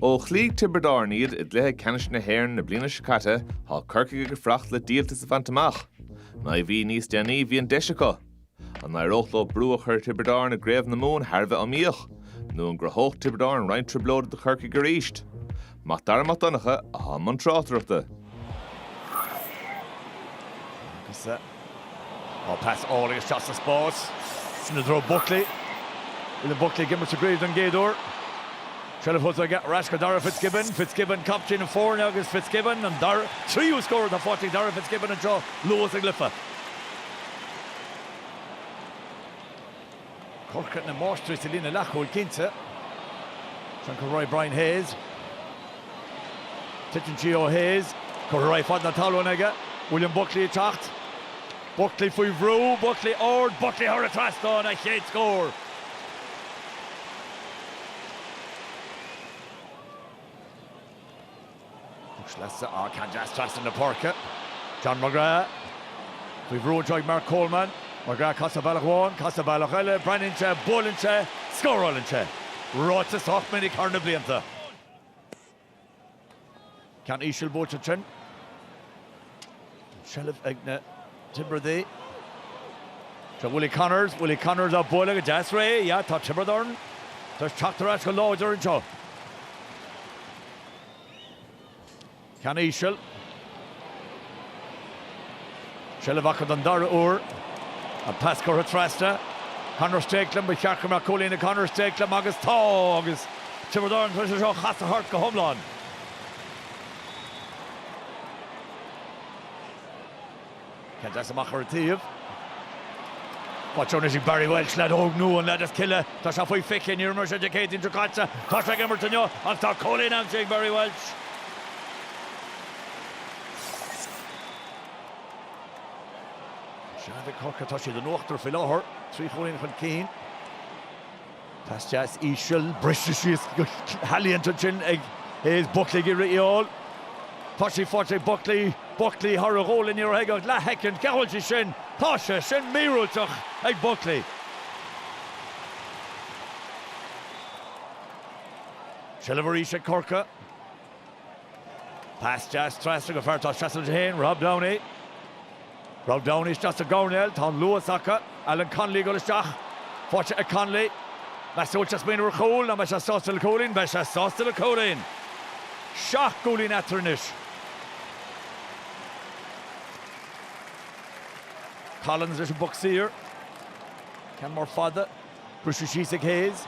Ó chloígh Tiobraid Árann iad i gcluiche ceannais na hÉireann na bliana seo caite, tá Corcaigh ag fuireacht le díoltas a bhaint amach. Naoi mhí níos déanaí, bhí an deis acu. An n-éireodh leo brú a chur ar Thiobraid Árann i gCraobh na Mumhan thar a bheith iomaíoch? Nó an gcruthódh Tiobraid Árann roinnt trioblóide do Chorcaigh arís? Mac Dara Mac Donncha atá i mbun tráchtaireachta. Agus tá pas álainn isteach sa spás i dtreo Buckley. William Buckley ag imirt sa gcraobh don gcéad uair. Seilbh fós aige ar ais go Darragh Fitzgibbon. Fitzgibbon, captaen na foirne agus Fitzgibbon an dara, tríú scór faighte ag Darragh Fitzgibbon anseo luath sa gcluiche. Corcaigh na máistrí sa líne leathchúil cinnte. San go raibh Brian Hayes. Titeann sí ó Hayes. Curtha ar aghaidh fan na talún aige. William Buckley ag teacht. Buckley faoi bhrú, Buckley ard, Buckley thar an trasnán, a chéad scór. Thug sleasa á ceann deas trasna na páirce. John McGrath faoi bhrú anseo ag Mark Coleman. McGrath ag casadh bealach amháin, ag casadh bealach eile, breathnaíonn sé, buaileann sé, scórálann sé. Ráite sách minic thar na blianta. Ceann íseal buailte ansin. An tseilbh ag na Tiobradaigh. Tá Willie Connors, Willie Connors á bualadh go deas réidh. Yeah, tá Tiobraid Árann tar éis teacht ar ais go láidir anseo. Ceann íseal. Seilbh acu don dara uair. An pas curtha trasna. Conor Stakelum, ba cheart go mbeadh cúilín ag Conor Stakelum agus tá agus Tiobraid Árann tar éis é seo a chasadh thart go hiomlán. Cad as amach ar an taobh. Faighte anois ag Barry Walsh leaid óg nua an leaid as Cill Ia. Tá sé faoi fhiche, níor imir sé Dé Céadaoin seo caite. Tá sé ag imirt inniu ach tá cúilín aimsithe ag Barry Walsh. Sean Mhic Chorcaí, tá siad in uachtar faoi láthair, trí chúilín chun cinn. Pas deas íseal, briste síos go healaíonta ansin ag Hayes. Buckley ag iarraidh í a fháil. Tá sí faighte ag Buckley. Buckley thar a ghualainn, ní raibh aige ach leathshoicind. Cé a bhfuil sí sin? Tá sé sin míorúilteach ag Buckley. Seilbh arís ag Corcaigh. Pas deas trasna go fear atá ina sheasamh leis féin, Rob Downey. Rob Downey isteach sa gcoirnéal, tá an luas acu, Alan Connolly ag dul isteach. Faighte ag Connolly. Meas tú an bhfuil sé ag smaoineamh ar chúl nó an mbeidh sé sásta le cúilín, beidh sé sásta le cúilín. Seacht gcúilín eatarthu anois. Collins leis an bpoc saor. Ceann mór fada. Briseadh síos ag Hayes.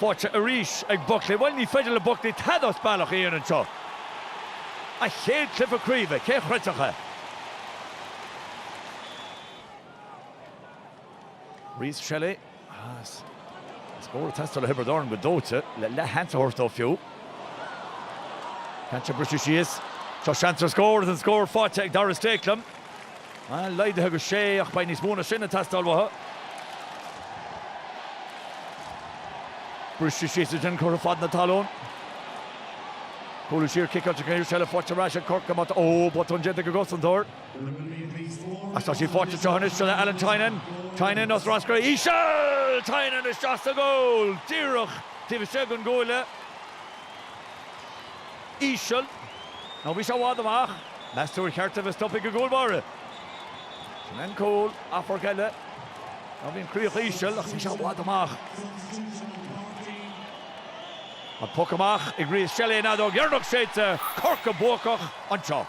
Faighte arís ag Buckley. Bhuel, ní féidir le Buckley tada as bealach a dhéanamh anseo. A chéad cluiche craoibhe, cé a chreidfeadh é? Rhys Shelly, as. Scór ag teastáil ó Thiobraid Árann go dóite, le leath sheans a thabhairt dóibh fiú. Téann sé briseadh síos. Tá seans ar scór, is tá an scór faighte ag Darragh Stakelum. Laghdaithe go sé ach beidh níos mó ná sin ag teastáil uathu. Briseadh síos ansin curtha fan na talún. Cúlú siar ciceáilte san aer seilbh faighte ar ais ag Corcaigh amach. Ó, botún déanta ag an gcosantóir. Ach tá sí faighte seans anois ag Alan Tynan. Tynan urchar íseal! Téann sí isteach sa gcúl! Díreach taobh istigh den gcuaille. íseal. Ó bhí sé i bhfad amach. Meas tú ar cheart dó a bheith stoptha ag an gcúl báire? Sin é an cúl, amharc eile. Ó bhí an chríoch íseal ach bhí sé i bhfad amach. An poc amach ag Rhys Shelly an fheadóg dheireanach séidte, Corcaigh buacach anseo.